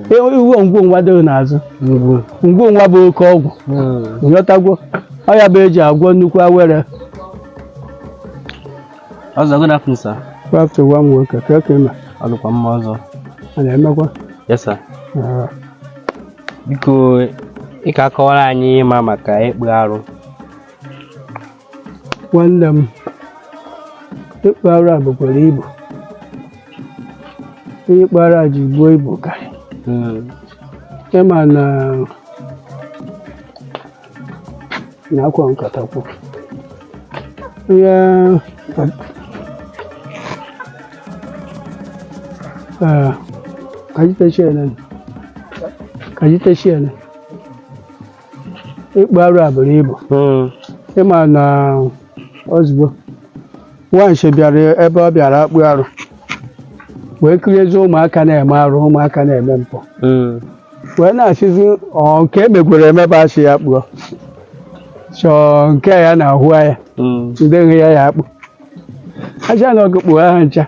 ị hụ ngwo ngwa dịrị n'azụ ngwo ngwa bụ oke ọgwụ nyọtagwo ọya bụ eji agwọ nnukwu awere ọzọ good afternoon sir afternoon nwa m nwoke ka ka ịma ọ dịkwa mma ọzọ a na-emekwa yes sir Ah, biko ị ka akọwara anyị ịma maka ịkpụ arụ nwanne m ịkpụ arụ a bukwara ibu ihe ịkpụ arụ a ji buo ibu ka ịma na na akwa nkata kwụ ya ka ji tashi nan ka ji tashi nan ịkpụ arụ a buru ibu Mm. ịma na ozugbo nwanshi bịara ebe ọ bịara akpụ arụ wee kiriezie ụmụaka na-eme arụ ụmụaka na-eme mpụ Mm. wee na-asịzi ọ nke emegwere emebe a sị ya kpụọ sọ nke ya na-ahụ ya Mm. ndị nwe ya ya akpụ aja na ọgụ kpụọ ha ncha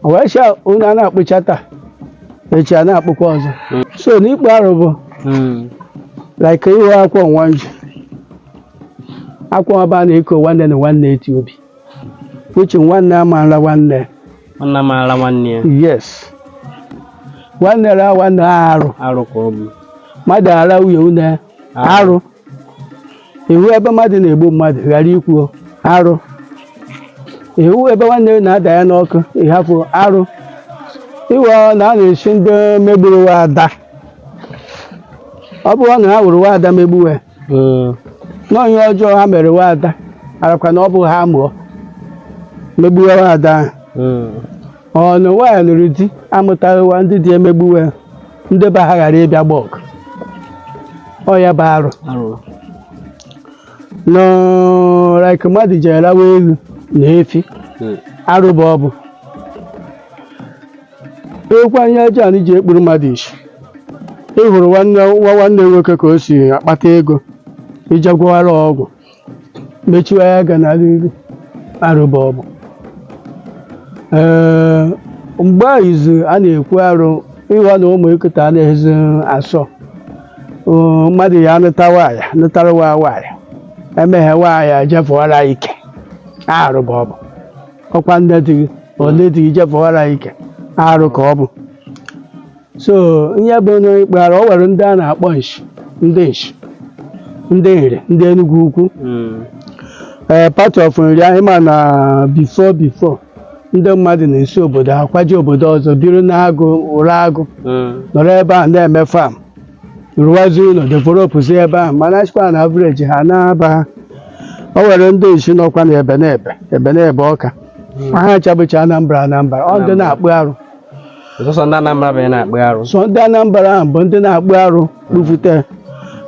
o wee sị na a na-akpụcha taa echi a na-akpụkwa ọzọ so na ịkpụ arụ bụ Mm. like iwe akwọ nwa nji akwọ ọba na-eko nwanne na nwanne eti obi uche nwanne amaala nwanne nwanna m ara nwanne ya yes nwanne ra nwanne arụ arụ ka ọ bụ mmadụ ara nwunye une arụ ị hụ ebe mmadụ na-egbu mmadụ ghara ikwu arụ ị hụ ebe nwanne gị na-ada ya n'ọkụ ị hapụ arụ iwe ọ na a na-esi ndị megburu wa ada ọ bụrụ na ha wụrụ wa ada megbuwe na ihe ọjọọ ha mere wa ada arakwa na ọ bụ ha mụọ megbuwe wa ada ahụ ọ na waaya lụrụ di amụtaghị wa ndị di emegbuwe ya ndị be ha ghara ịbịa gba ọgụ ọ ya bụ arụ na like mmadụ jere rawa eghu na efi Hmm. arụ bụ ọ bụ ekwu anya ọjọọ anyị ji ekpuru mmadụ isi ị hụrụ nwanne nwa nwanne nwoke ka o si akpata ego ị je gwọwara ọgwụ mechiwa ya ọga n'iru arụ bụ ọ bụ ee mgbe a izu a na-ekwu arụ ihe na ụmụaka taa anaghịzi asọ Ee, mmadụ ya nụtawa ya nụtara wa waaya emeghe waaya jefụwara ike arụ bụ ọ bụ ọkwa nne di gị ole di gị jefụwara ike arụ ka ọ bụ so ihe bụ ịkpụ arụ o nwere ndị a na-akpọ nshi ndị nshi ndị nri ndị Enugwu ukwu ee part of nri anyị ma na before before ndị mmadụ na-esi obodo ha kwaje obodo ọzọ biri n'agụ ụra agụ nọrọ ebe a na-eme fam rụwazi ụlọ developụzi ebe ahụ mana achịkwa na avreji ha na-aba ha o nwere ndị nshi nọkwa na ebe na-ebe ebe na-ebe Ọka ma ha chabụcha Anambra Anambra ọ ndị na-akpụ arụ sọsọ ndị Anambra bụ ya na-akpụ arụ sọ ndị Anambra ahụ bụ ndị na-akpụ arụ kpụfute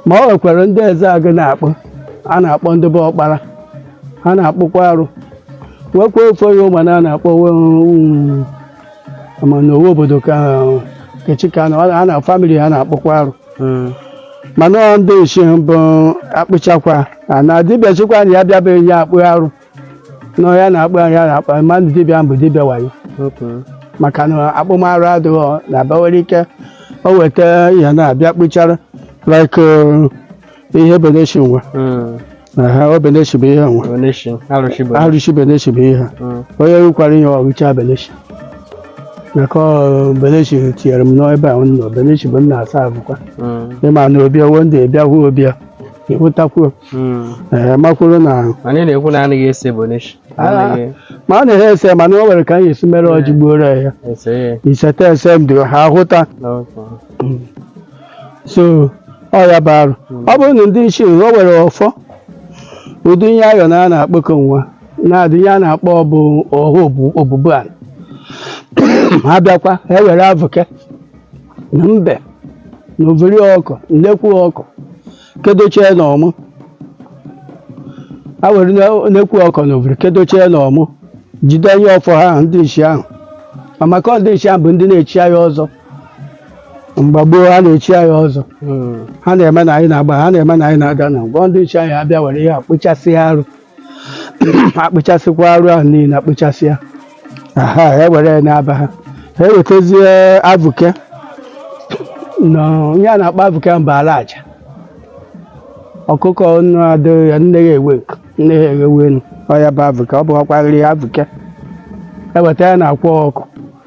ma ọ nwekwara ndị Ezeagụ na-akpụ a na-akpọ ndị bụ ọkpara ha na-akpụkwa arụ nwekwa ofe ya Ụmana a na-akpọ mana owe obodo ka kechika a na famili ha na-akpụkwa arụ hmm. mana ndị nshi bụ akpụchakwa na dibịa sịkwa na ya bịabeghị ya akpụ arụ na ya na-akpụ ya na-akpụ mmadụ dibịa a bụ dibịa wayo maka na akpụm arụ adịghị na abawere ike o weta ihe na-abịa kpụcha arụ like uh, ihe beneshi nwa aha o beneshi bụ ihe nwa arụshi beneshi bụ ihe onye rukwara ihe ọrụcha beneshi maka ọ, beneshi tinyere m n'ebe ahụ nọ beneshi bụ nna asa abụkwa ịma na obi owo ndị bịa hụ obi ya ịhụtakwuo makwuru na anyị na-ekwu na anaghị ese beneshi ma a na-ehe ese mana o nwere ka anyị esi mere ọjị gbuoro ya iseta ese m dị ha hụta so ọ ya bụ arụ ọ bụrụ na ndị nshi o nwere ọfọ ụdị ihe ayọ na a na-akpọkọ nwa na-adị ihe a na-akpọ ọbụ ọha obubu ala ha bịakwa ha ewere avụke na mbe na overi ọkụ nnekwu ọkụ kedochie na ọmụ ha were nnekwu ọkụ na oviri kedochie na ọmụ jide ihe ọfọ ha ahụ, ndị nshi ahụ ma maka ọ ndị nshi ahụ bụ ndị na-echi anyị ọzọ mgbe gboo ha na-echi anyị ọzọ ha na-eme na anyị na-agba ha na-eme na anyị na-ada na ngwa ndị nshi ahụ abịa were ihe a kpụchasị arụ akpụchasịkwa arụ ahụ niile akpụchasị ya ha ewere ya n'aba ha ewetazie avuke na ihe a na-akpọ avuke bụ ala aja ọkụkọ nụ adịghị ya nne ya ewe nkụ nne ya eghewe enu ọ ya bụ avuke ọ bụkwarịrị avuke eweta ya na akwa ọkụ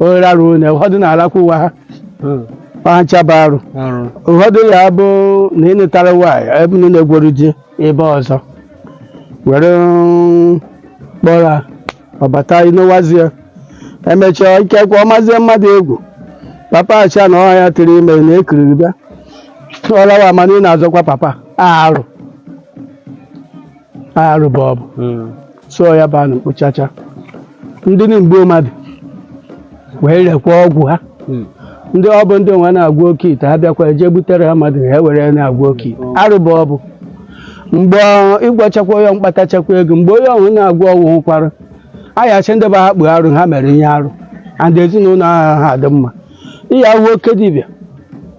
ohere arụ onye ụfọdụ na-alakwa ụwa ha ncha bụ arụ arụ ụfọdụ ya bụ na ị nụtara nwaanyị ebe na ị na-egwuru di ebe ọzọ were mm, kpọrọ ha, ọ bata ị nụwazie emechaa ikekwe ọ mazie mmadụ egwu papa acha na ọha ya tiri ime na ekiriri bịa ọ lawa mana ị na-azọkwa papa arụ arụ ba ọ bụ hmm. so ya bụ anụ mkpochacha ndị na-egbu mmadụ werekwa ọgwụ ha hmm. ndị ọ bụ ndị nwa na-agwọ oke ite ha bịakwa jee butere ha mmadụ ha were na-agwọ oke ite hmm. arụ ba ọ bụ mgbe ị gwọchakwa onye mkpatachakwa ego mgbe onye ọhụrụ na-agwọ ọgwụ hụkwara ayasị ndị be ha kpụ arụ ha mere ihe arụ and ezinụlọ ha ha dị mma ihe ahụ oke dibịa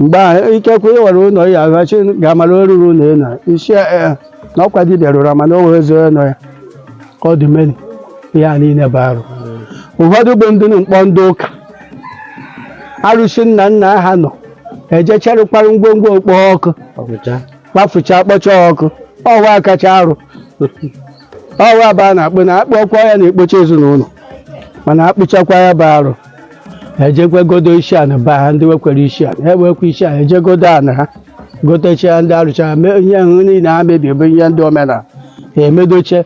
mgbe ahụ ikekwe ị ghọrọ ụlọ ya agachi ga-amara oruru ụlọ ị na isi ya ee na ọkwa dibịa rụrụ mana o wee zoo nọ ya ka ọ dị meri ihe a niile bụ arụ ụfọdụ bụ ndị na-akpọ ndị ụka arụsị nna nna ha nọ e jee chịrịkwara ngwongwo ọ kpọọ ọkụ Ọgwụcha. kpafucha kpọcha ọkụ ọwa kacha arụ ọwa ba a na-akpụ na a kpụọkwa ya na-ekpocha ezinụlọ mana a kpụchakwa ya bụ arụ e jekwe godo isi ana ba ha ndị nwekwere isi ana ha enwekwa isi ana e jee godo ana ha gotechia ndị arụchara mee ihe ahụ niile ha mebiri bụ ihe ndị omenala ha emedoche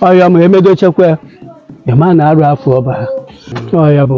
ọ ya ma emedochekwa ya ị ma na arụ afụọ ba ha ọ ya bụ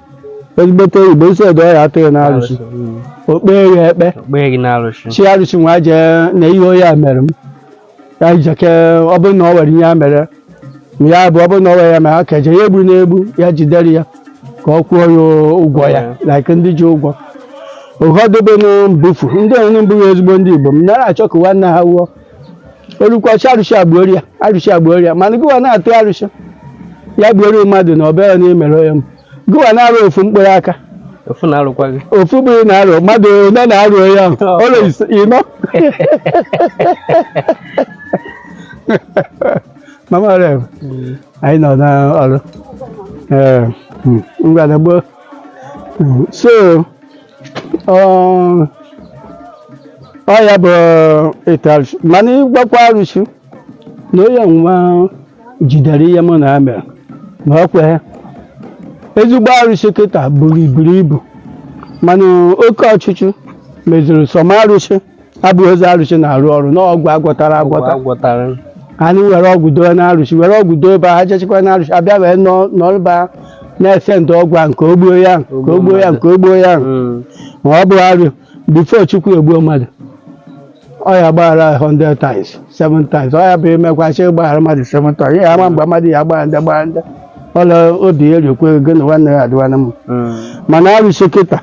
ezigbote igbo si edo ya a tụ gị n'arụsị o kpee ya ekpe o kpee gị n'arụsị sị arụsị nwa jee na ihe onye a mere m ya jeke ọ bụrụ na ọ nwere ihe a mere m ya bụ ọ bụrụ na ọ nwere ya mere aka eje ya egbu na-egbu ya jidere ya ka ọ kwụọ ya ụgwọ ya like ndị ji ụgwọ ụfọdụ bụ na mbufu ndị ọrụ mbụ ya ezigbo ndị igbo anara achọ ka nwanne ha nwụọ o rukwa sị arụsị agbuori ya arụsị agbuori ya mana gịwa na-atụ arụsị ya gbuoro mmadụ na ọ bụ ya na emere onye m gịwa na-arụ ofu mkpụrụ aka ofu na-arụkwa gị ofu mkpụrụ na-arụ mmadụ ole na-arụ onye ahụ ọrụ ise- ịnọ mama rem anyị nọ n'ọrụ Ee, mm, ngwa naa gboo Mm, so Ọ- ọ ya bụ ịtụ arụsị mana ị gwakwa arụsị na onye nwa jidere ihe mụ na ya mere na ọ kweghị ezigbo arụsị kịta buru iburu ibu mana oke ọchịchọ meziri some arụsị abụghịzi arụsị na-arụ ọrụ n'ọgwụ a gwọtara agwọta a gwọtara anyị were ọgwụ doo na arụsị were ọgwụ doo ebe ha jechekwa na arụsị abịa wee nọrọ eba na-esend ọgwụ a nke o gbuo ya nke o gbuo ya nke o gbuo ya Mm. ma ọ bụ arụ before chukwu egbuo mmadụ ọ ya-agbaghara 100 times 7 times ọ ya bụ imekwa sị gbaghara mmadụ 7 times ya ama mgbe mmadụ ya gbaghara ndị gbaghara ndị ọla obi eriekwe gị na nwanne ya adịwana m Mm, mana arụsị kịta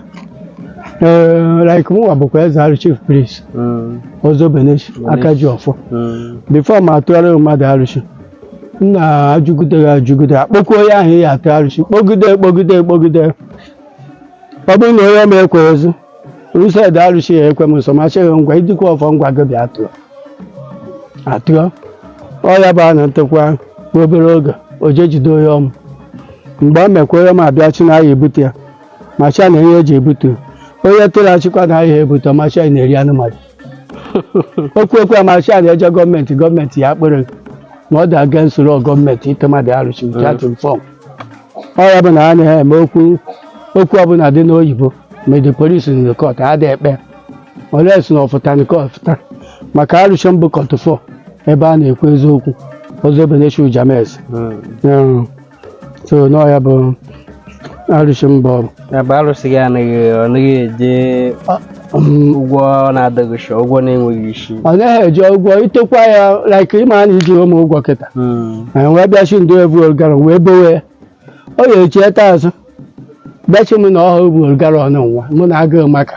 ee like mụnwa bụkwa eze arụ chief priest mm, ọzọ beneshi aka ji ọfọ mm, before mụ atụọrọ mmadụ arụsị m na-ajụgide ya ajụgide akpọkwuo onye ahụ a ya-atụ arụsị kpọgide kpọgide kpọgide ọ bụrụ na onye nwa ekweghịzi Used arụsị ya ekwe m nso ma sịghị ngwa idikwa ọfọ ngwa gị bịa tụọ atụọ ọ ya bụ na o tekwa obere oge o je jide onye ọma mgbe ọ mekwa onye ọma abịa sị na ahịa ebute ya ma sị na ihe eji ebute onye tụrụ asịkwa na ahịa ebute ma sị na-eri anụ mmadụ okwu okwu a ma sị a na-eje gọọmenti gọọmenti ya kpere na ọ dị against law gọọmenti ite mmadụ arụsị nke a tụrụ fọm ọ ya bụ na a naghị eme okwu okwu ọbụla dị n'oyibo ma ndị police na court a dị ekpe ole si na ọfụta nke ọfụta maka arụsị m bụ court ọfọ ebe a na-ekwu eziokwu ọzọ ebe na-echu james Mm. so n'ọ ya bụ arụsị m bụ ya bụ arụsị gị anaghị ọ naghị eje ụgwọ na-adịghị isi ụgwọ na-enweghị isi ọ naghị eji ụgwọ i tekwa ya like ị ma na i ji m ụgwọ kịta anyị wee bịa sị ndị ebu olgara wee bowe ya ọ ya echi eta azụ bịa sị m na ọha ebu olgara ọnụ nwa mụ na agụụ maka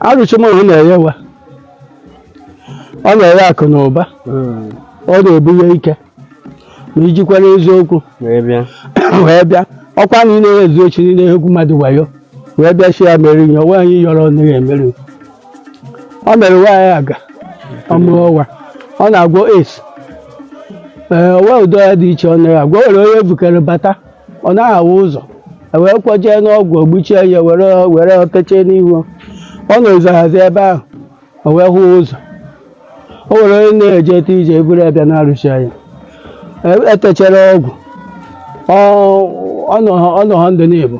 arụsị m ọ na-enye nwa ọ na-enye akụ na ụba Mm. ọ na-ebunye ike ma i jikwara eziokwu Wee bịa. wee bịa ọkwa na ị na-ezu oshi na-egwu mmadụ wayo wee bịa sị ya mere ihe onwe anyị yọrọ nne ya emere ọ mere nwaanyị aga ọ mụọ nwa ọ na-agwọ es ee o nweghị ụdị ọya dị iche ọ naghị agwọ o nwere onye bukere bata ọ naghị ahụ ụzọ e wee kwọjee n'ọgwụ ogbuchie ya were were techee n'ihu ọ na-ezohazi ebe ahụ o wee hụ ụzọ o nwere onye na-eje ete ije e buru ya bịa n'arụsị ya E- etechara ọgwụ ọ- ọ nọ ọ nọ ha ndụ n'Igbo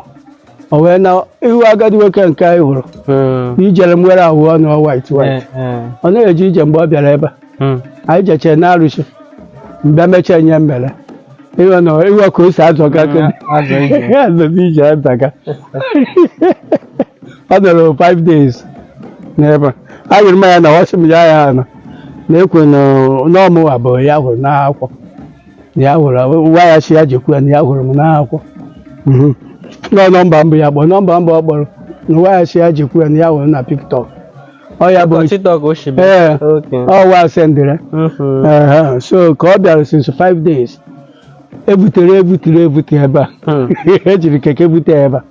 o wee na ị hụ agadi nwoke nke anyị hụrụ na ijere nwere ahụ ọnụ white white ọ naghị eje ije mgbe ọ bịara ebe a anyị jechee na arụsị mgbe m mechaa ihe m mere ị hụ na ị hụ ka o si azọga azọzi ije azaga ọ nọrọ five days n'ebe a a yiri m ya na ọ sị m ya ya na na-ekwe na ọ mụwa bụ ya hụrụ n'akwụkwọ ya hụrụ nwa ya sị ya jekwu ya na ya hụrụ m n'akwụkwọ Mhm. nọ nọmba mbụ ya kpọrọ nọmba mbụ ọ kpọrọ na nwa ya sị ya jekwu ya na ya hụrụ na TikTok ọ ya bụ TikTok o si bịa. Ee. Okay. ọ wa sendịrị Mhm. Ehe, so ka ọ bịara since five days ebutere ebutere ebute ebe a Hmm. e jiri keke bute ebe a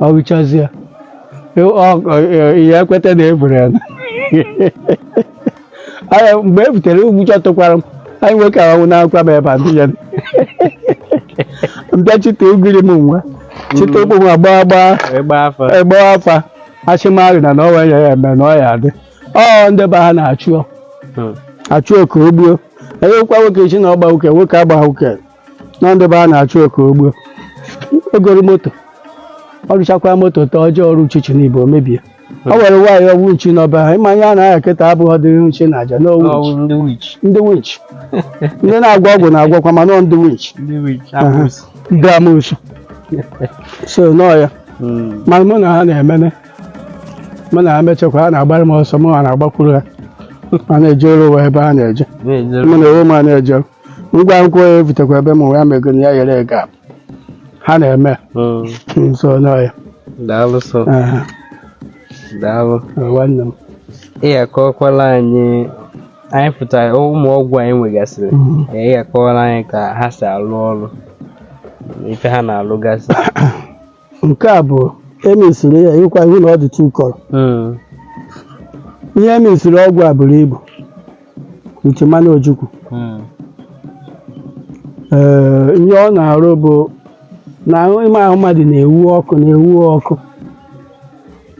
ọ hụchazie ị ya ekweta na e buru ya mgbe e butere ụjọ tụkwara m nwoke a anwụnakwa m ebe a ndị ya m bịa chịte ugiri m nwa chịte ụkwụ nwa gbaa gbaa afa asị m na na ọwa ya ya eme na ọ ya adị ọ ndị be ha na-achọ achọ ka e gbuo onye ụkwa nwoke sị na ọ gba nwoke nwoke agba nwoke na ndị be ha na-achọ ka o gbuo o goro moto ọ rụchakwa moto taa o jee ọrụ uchichi n'ibo mebie ọ nwere nwaanyị ọwụ nchi n'ọba ha ịma ihe a na-aya kịta abụghị ọdịrị nshi na aja n'owu Ọwụ ndị wich ndị winch ndị na-agwọ ọgwụ na-agwọkwa ma nọọ ndị winch ndị wich abụsị ndị amosu so nọọ ya ma mụ na ha na-emene mụ na ha mechakwa ha na-agbara m ọsọ mụ a na-agbakwuru ha ma na-eje ọrụ ụwa ebe ha na-eje na-ejere mụ na onwe m a na-eje ngwa nkwụ ya ebutekwa ebe mụ ya mego na ya yere ego a. ha na-eme Mm. so nọọ ya daalụ sọ Aha, daalụ nwanne m ị akọkwala anyị anyị pụtara ụmụ ọgwụ a ị nwegasịrị Mhm. ị akọwala anyị ka ha si alụ ọrụ na ife ha na-alụgasị nke a bụ e mesịrị ya ọkwa ị hụ na ọ dị tukọrọ Mm. ihe e mesịrị ọgwụ a buru ibu wit mmanụ ojukwu Mm. ee ihe ọ na-arụ bụ na ime ahụ mmadụ na-ewu ọkụ na-ewu ọkụ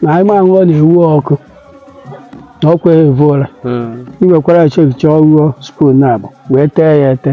na ime ahụ ọ na-ewu ọkụ na ọkwa evu ụra Mm. i wekwara chọọchị ọ ṅụọ spoon naabọ wee tee ya ete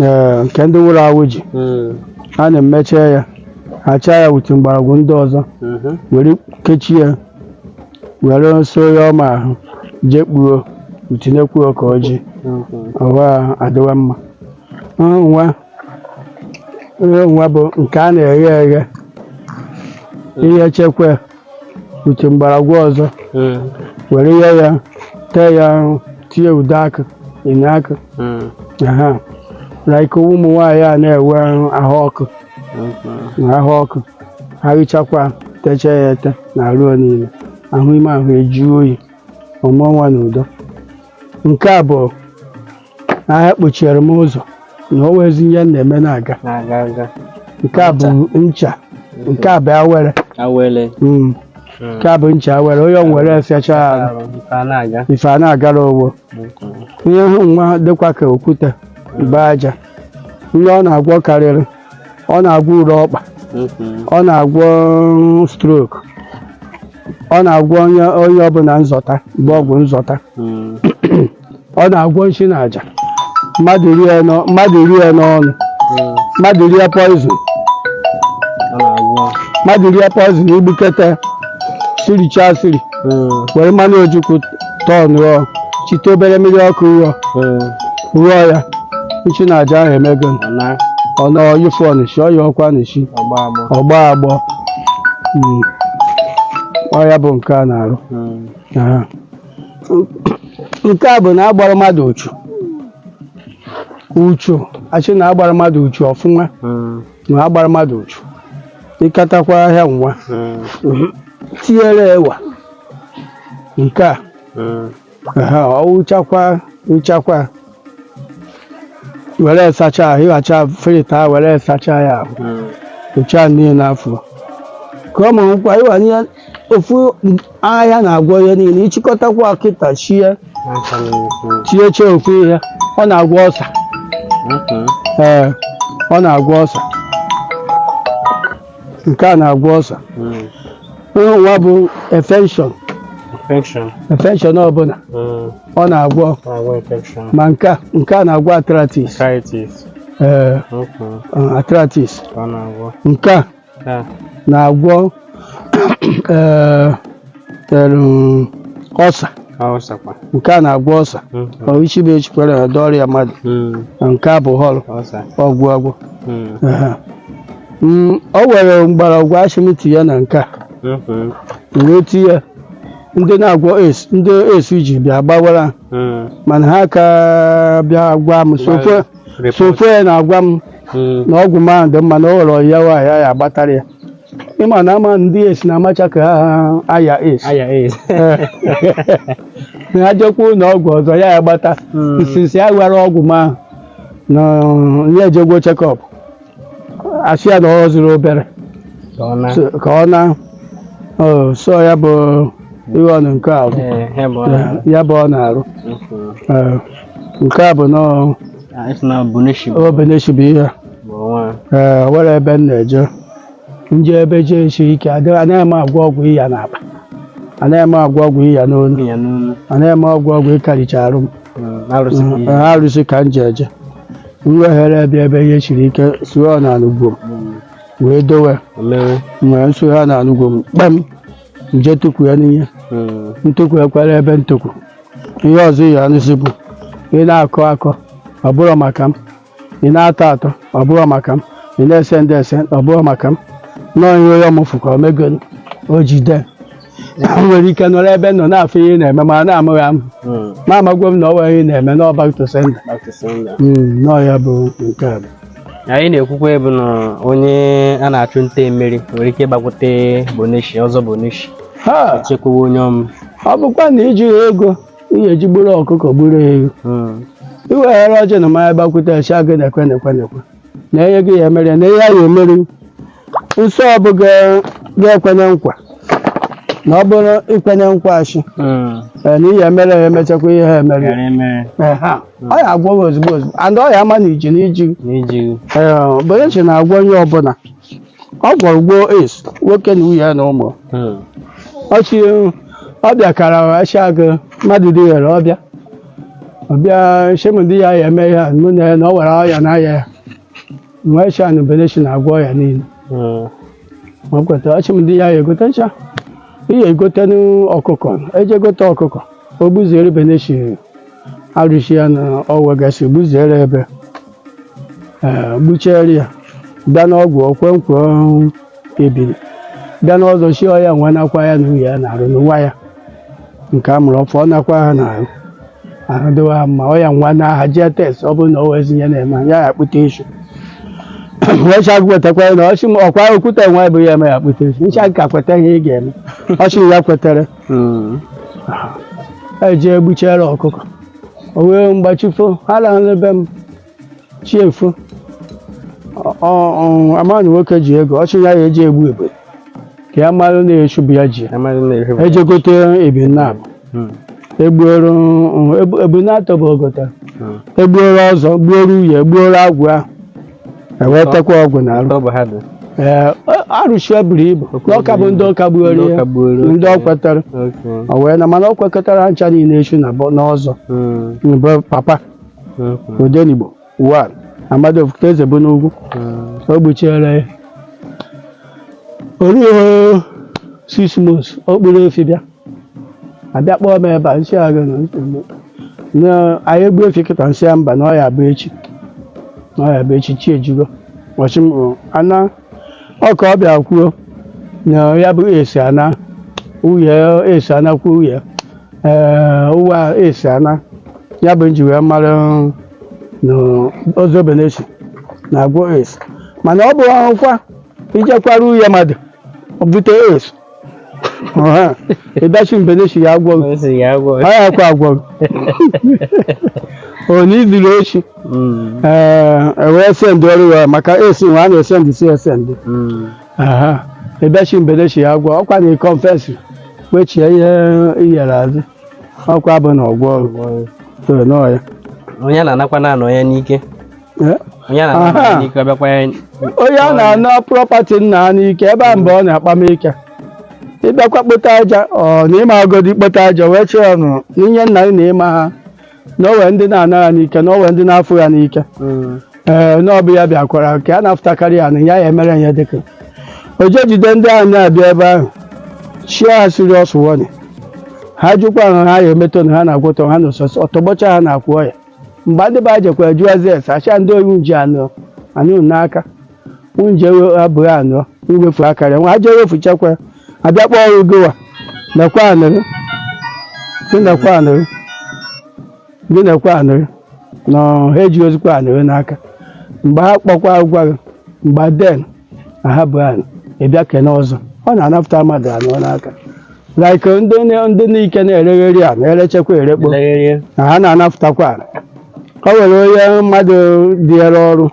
ee, nke ndị nwụrụ anwụ ji Mm, a na-emecha ya achaa ya wit mgbọrọgwụ ndị ọzọ mhm. were kechie ya were so ya ọma ahụ jee kpuo tinyekwuo ọka ọjị Mhm. ọwa adịwa mma nwa nwa bụ nke a na-eghe eghe ihe chekwa wit mgbọrọgwụ ọzọ Mm, were ya ya tee ya ahụ tinye ude akụ enu akụ mm, aha like ụmụ nwaanyị a na-enwe ahụ ọkụ mm, na ahụ ọkụ ha richakwa techaa ya ete na arụ niile ahụ ime ahụ ejuo oyi ọ mụọ nwa na udo nke a bụ na ha kpochiere m ụzọ na o nwezi ihe m na-eme na-aga na-aga aga nke a bụ ncha nke a bụ awere awele Mm. nke a bụ ncha awere onye ọ were afịacha arụ arụ nke a na-aga ife a na-agara owo ihe ahụ nwa dịkwa ka okwute bụ aja ihe ọ na-agwọ karịrị ọ na-agwọ ure ọkpa mhm. ọ na-agwọ mm, strok ọ na-agwọ ọnya ọnya ọbụla nzọta bụ ọgwụ nzọta Mm. ọ na-agwọ nshi na aja mmadụ rie n'ọ- mmadụ rie n'ọnụ Mm. mmadụ rie poizin Ọ na-agwọ. mmadụ rie poizin igbukete siricha siri were mmanụ ojukwu tọn rụọ chite obere mmiri ọkụ rụọ rụọ ya nchi na aja ahụ emego ọ nyụfụọ nshị ọya ọkwa nshị ọ gba agbọ Mm. ọ ya bụ nke a na-arụ Aha. nke a bụ na a gbara mmadụ uchu uchu a sị na a gbara mmadụ uchu ọfụma ma a gbara mmadụ uchu ị katakwa ahịhịa nwa Mm, tinyere ewa nke a mm, aha ọ wụchakwa wụchakwa were sacha ahụ ịghacha filter ahụ were sacha ya ahụ mm. ụcha niile n'afọ ka ọ mụrụ nkwa ịwa ihe ofu ahịhịa na-agwọ ihe niile ị chịkọtakwa kịta sie sie sie ofu ihe ọ na-agwọ ulcer ee ọ na-agwọ ulcer nke a na-agwọ ulcer ụlọ nwa bụ infection Infection. infection ọbụla Mm. ọ na-agwọ Agwọ infection. ma nke a nke a na-agwọ arthritis Arthritis. ee Okay. arthritis Ọ na-agwọ. nke a Ha. na-agwọ eh, em, ulcer Ka ulcer kwa. nke a na-agwọ ulcer Mm. ọ isi bụ echikwara ya dị ọrịa mmadụ Mm. na nke a bụ họlụ Ulcer. ọgwụ agwọ Mm. Aha. Mm, o were mgbọrọgwụ a sị m tiye na nke a Mhm. wee tinye ya. ndị na-agwọ AIDS ndị AIDS ji bịa gbawara ha. Mm. mana ha ka bịa gwa m so far Report. so far ya na-agwa m Mm. na ọgwụ m a dị mma na o nwere ọya nwaanyị ya agbatara ya ị ma na ama ndị AIDS na-amacha ka ha aya AIDS Aya AIDS. na ajekwa ụlọ ọgwụ ọzọ ya ya gbata Mm. nsisi ya were ọgwụ m a na ya ejegwo checkup a sị ya na ọ fọziri obere Ka ọ naa. so- ka ọ naa o, so ya bụ ihe ọrụ nke a bụ Eh, he bụ ọrụ. ya bụ ọ na-arụ Mhm. Eh, nke a bụ nọọ obeneshibu ihe ee were ebe m na-eje nje ebe ihe siri ike anaghị m agwọ ọgwụ ịya n'akpa anaghị m agwọ ọgwụ ịya n'onu anaghị m agwọ ọgwụ ịkaricha arụ m Ee, arụsị ka m ji eje m weghere ebe ebe ihe siri ike sụọ na anụgo m wee dowe nwee nsụgha na anụgo m kpam nje tukwu ya n'ihe Mm. ntụkwu ekwere ebe ntụkwu ihe ọzọ ihe anụsi bụ ị na-akọ akọ ọ bụrụ maka m ị na-atọ atọ ọ bụrụ maka m ị na-esend esend ọ bụrụ maka m nọọ ihe onye ọmụfụ ka o megoro o jide m nwere ike nọrọ ebe m nọ na-afụ ihe ị na-eme mana amaghị m Mm. ma amagwo m na ọ nwere ihe ị na-eme na back to sender Back to sender. nọọ ya bụ nke a bụ anyị na-ekwukwa bụ na onye a na-achụ nta mmiri nwere ike ịgbakwute boneshi ọzọ boneshi ha chekwawa onye ọm ọ bụkwanụ i ji ego ị ga-eji gburu ọkụkọ gburu ewu Hmm. iweghara ọjị na mmanya gbakwute a shị gị na-ekwe na-ekwe na-ekwe na ihe gị ya mere na ihe a ga-emeri nsọ ọ bụ ga- ga-ekwenye nkwa na ọ bụrụ i kwenye nkwa a shị Hmm. ee, na ihe mere ya emechakwa ihe ha emere Ghara emere. Ehe. ọ ya agwọ gị ozugbo ozugbo and ọ ya ama na iji na iji gị. n'iji gị Ee, beneshi na-agwọ onye ọbụla ọ gwọrọ gwọọ AIDS nwoke na nwunye ya na ụmụ Hmm. ọ shị ọ bịakara a shị gị mmadụ dị ghere ọ bịa ọ bịa shị m na di ya ya eme ihe a mụ na ya na o nwere ọya na-aya ya m wee shị ya na beneshi na-agwọ ọya niile Mm. ọ kweta ọ shị m di ya ya egote ncha ihe egote ọkụkọ eje gote ọkụkọ o gbuziere beneshi arụshị ya na ọwa gasị gbuziere ebe ee gbuchiere ya bịa n'ọgwụ o kwe nkwa ebiri bịa n'ọzọ shị ọya nwa nakwa ya na uye ya n'arụ na nwa ya nke a mụrụ ọfụ ọ nakwa ha n'arụ ahụ dịwa ha mma ọya nwa naa ha jee test ọ bụrụ na o nwezị ihe na-eme ya ya akpụta eshu wee shị gị kwetakwa ya na ọ shị m ọkwa okwute nwa bụ ya eme ya akpụta eshu ncha ka kweta ihe ị ga-eme ọ shị ya kwetere eje egbuchere ọkụkọ o wee mgbachifo ha rahụ na be m chi efo amaghị na nwoke ji ego ọ shị ya ya eji egbu ebe ka ya mara na eshu bụ ya ji Amaghị na ihe bụ- eje gote ebe naabọ Hmm. egbuoro ebe natọ bụ o gota Hmm. egbuoro ọzọ gbuoro uye gbuoro agwụ ahụ ewetakwa ọgwụ na arụ Ọ bụ ha dị. ee arụshị buru ibu na ọka bụ ndị ọka gbuoro Ndị ya ọka gbuoro. ndị ọ kwetara Okay. o wee na mana ọ kwekọtara ncha niile echu na bọ- n'ọzọ Hmm. bụ papa odenigbo wan amadi ofuto eze bụ n'ugwu o gbuchiere ya o ruo six months ọ kpụrụ efi bịa abịa kpọọ m ebe a m sị a gị na nsogbu. na a ya egbu efi kịta m sị ya mba na ọ ya bụ echi na ọ ya bụ echi chi ejigo ọ shị m ana ọ ka ọ bịa kwuo na ya bụ AIDS ana uye AIDS anakwuo uye ee nwa AIDS ana ya bụ m ji wee mara na ọzọ beneshi na-agwọ AIDS mana ọ bụ ọkwa i jekwara uye mmadụ bute AIDS Aha, ị bịa shị beneshi ya agwọ gị. Nsị ya agwọ. Ọ yaka agwọ gị. Onye zuru oshi. Mm, Ee, e wee sendoro ya maka AIDS nwa a na-esendị si esendị. mm, Aha, ị bịa shị beneshi ya agwọ. Ọkwa na ị confess wechie ihe iyere azụ. Ọkwa bụ na ọgwọ ọrụ. agwọ. So, nọọ ya. Onye na-anakwa na-anọ ya n'ike. onye a na-ana prọpati nna ha n'ike ebe a mgbe ọ na-akpa m ike ịbịakwa kpota aja ọ na ịma agodi kpota aja wee chee ya ọnụ n'ihe nna gị na ịma ha na owe ndị na-ana ya n'ike na owe ndị na-afụ ya n'ike ee na ọ bụ ya bịakwara ka a na-afụtakarị ya na ya ya emere ihe dịka o je jide ndị ahụ na-abịa ebe ahụ chie ha serious warning ha jụkwa ahụ ha ya emetọ na ha na-agwọtọ ha na ọtọgbọcha ha na-akwụ ọya mgbe ndị be anyị jekwara jụọ eze ese acha ndị oyi nji anụ anyị unu n'aka nje abụghị anụ iwefu akarịa nwa aja ewefu chekwa abịa kpọọ ọrụ gowa nekwa anụrụ gị nekwa anụrụ gị nekwa anụrụ na ha ejirozikwa anụrụ n'aka mgbe ha kpọkwa agwa gị mgbe den na ha bụ anụ ịbịa kene ọzọ ọ na-anapụta mmadụ anụ n'aka like uh, ndị na- ndị n'ike na-eregheri a na-erechekwa erekpo Legherie. na ha na-anapụtakwa ala. o nwere onye mmadụ dịere ọrụ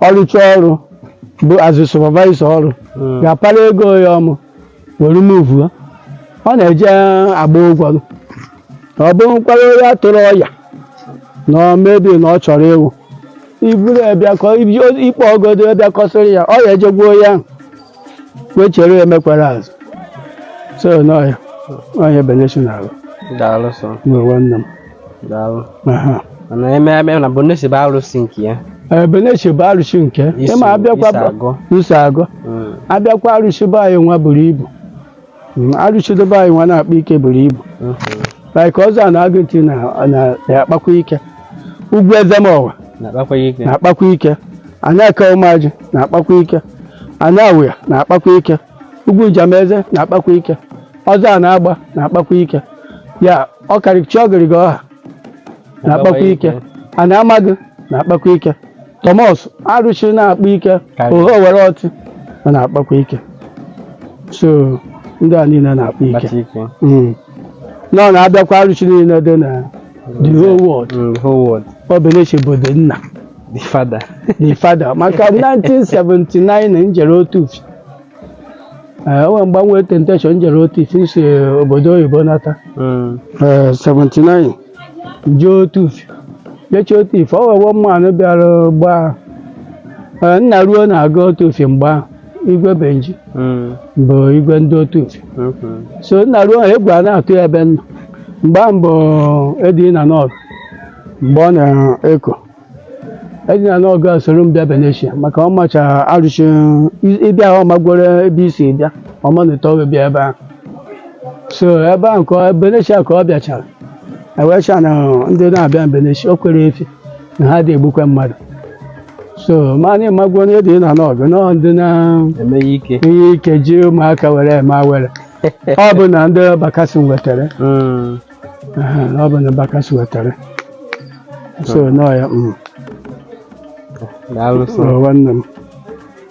ọrụcha ọrụ bụ azụ supervisor ọrụ Mm. ga-apara ego ya ọmụ were move ya. ọ na-eje agba ụgwọ ọ bụkwara onye atụrụ ọya na ọ maybe na ọ chọrọ ịwụ iburu ya bịa ka ọ- ikpe ọgodo ya bịa kọsịrị ya ọ ya ejegbuo ya ahụ wee chere ya emekwara azụ so n'ọya onye Beneshi daalụ sọ nwere nwanne m daalụ Aha. mana eme eme na Beneshi bụ arụsị nke ya Beneshi bụ arụsị nke Iso- ịma abịakwa iso agụ. nso agụ Mm. abịakwa arụsị be anyị nwa buru ibu Mm, arụsị dị be anyị nwa na-akpa ike buru ibu like ọzọ Ana Agụntị na- na- na-akpakwa ike ugwu Ezemowa na-akpakwa ya ike na-akpakwa ike Ana Aka Ụmụajị na-akpakwa ike Ana Awụya na-akpakwa ike ugwu Njameze na-akpakwa ike ọzọ Ana Agba na-akpakwa ike ya ọkarịchi ọgịrịga ọha na-akpakwa ike Ana Amagụ na-akpakwa ike Thomas arụsị na-akpa ike Karịa. Ohe Owere Ọtị ọ na-akpakwa ike so ndị a niile na-akpa ike Kpata ike. Mm. na ọ na-abịakwa arụsị niile dị na the whole world Mm, the whole world. ọ Beneshi bụ the nna The father. the father maka 1979 na njere otu Ee, o nwere mgbe m nwere temptation jere Otufi si obodo oyibo nata Mm. Ee, 79 jee Otufi jechi Otufi o wewo mmanụ bịara gbaa Ee, nna ruo na-aga Otufi mgbe ahụ igwe Benji Mm. bụ igwe ndị Otufi Okay. so nna ruo ahụ egwu a na-atụ ya ebe nna mgbe ahụ bụ edi na nọt mgbe ọ na-eko Eddy na Nọgụ a soro m bịa Beneshi maka ọ macha arụsị ịbịa ahụ ọ magworo ebe isi bịa ọma na ụtọ bịa ebe ahụ so ebe ahụ ka ọ- Beneshi ka ọ bịachara ewecha na ndị na-abịa Beneshi o kwere efi na ha adị egbukwe mmadụ so ma ị magworo na Eddy na Nọgụ nọ ndị na-eme ihe ike ji ụmụaka were eme awere ọ bụ na ndị Bakassi wetara Mm. Aha, na ọ bụ na Bakassi wetara so nọ ya mm, daalụ sọ ọ nwanne m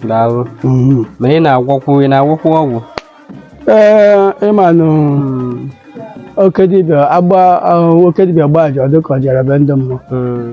daalụ mhm. ma ị na-agwọkwu ị na-agwọkwu ọgwụ ee ị manụ oke dibịa agba ahụ oke dibịa gbaa aja ọ dịka ọ jere be ndị mmụọ Mm.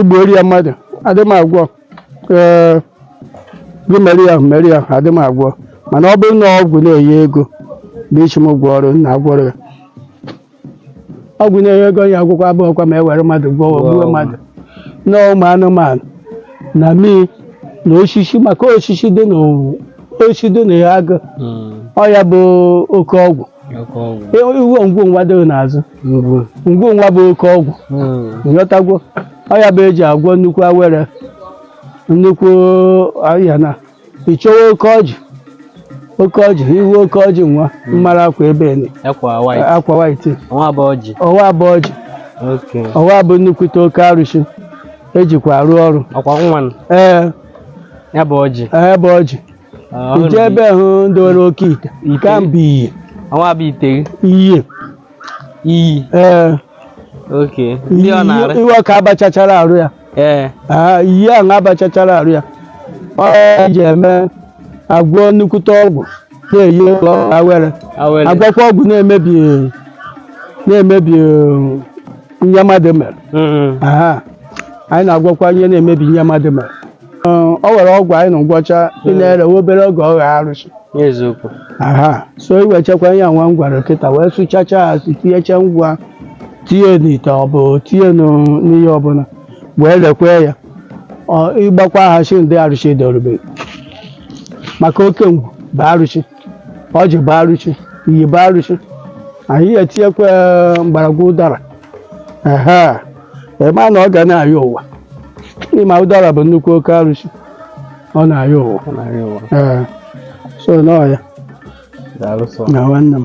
igbuori ya mmadụ adị m agwọ ee gị mere ya mere ya adị m agwọ mana ọ bụrụ na ọgwụ na-enye ego bịa sị m gwọọrụ na-agwọrọ ya ọgwụ na-enye ego ya agwụkwọ abụghịkwa ma e were mmadụ gwọọ Gwọọ gbuo ọgwụ. mmadụ na ụmụ anụmanụ na mmiri na osisi maka osisi dị na osisi dị n'agụ Mm. ọ ya bụ oke ọgwụ ị hụ ngwu nwa dị n'azụ ngwu nwa bụ oke ọgwụ nghọtagwo ọ ya bụ e ji agwọ nnukwu awere nnukwu ahịa na ị chọwa oke ọjị oke ọjị ị hụ oke ọjị nwa m mara akwa ebe ni akwa white ọwa bụ ọjị ọwa bụ nnukwute oke arụsị e jikwa arụ ọrụ ee ya bụ ọjị i je ebe ahụ ndị nwere oke ite nke a bụ iyi iyi ee ihe ka a bachachara arụ ya Ee. Ah, iyi ahụ a bachachara arụ ya ọ e ji eme agwọ nnukwute ọgwụ na-eyi awere agwọkwa ọgwụ na-emebi na-emebi eh, ihe mmadụ mere Mm. Aha. anyị na-agwọkwa ihe na-emebi ihe mmadụ mere Ee, o nwere ọgwụ anyị na-agwọcha ị na-ere nwa obere oge ọ ghọọ arụsị n'eziokwu aha so i wechakwa ihe nwa m gwara kịta wee sụchacha ya si tinyecha ngwa tinye n'ite ọ bụ tinye n'ụ- n'ihe ọbụla wee lekwe ya Ọ- ịgbakwa ha shi ndị arụsị dorube maka oke ngwu bụ arụsị ọjị bụ arụsị iyi bụ arụsị anyị etinyekwa mgbọrọgwụ ụdara ehe ị ma na ọ ga na-ayọ ụwa ị ma ụdara bụ nnukwu oke arụsị ọ na-ayọ ụwa Ọ na-ayọ ụwa. ee so nọ ya Daalụ sọ. na nwanne m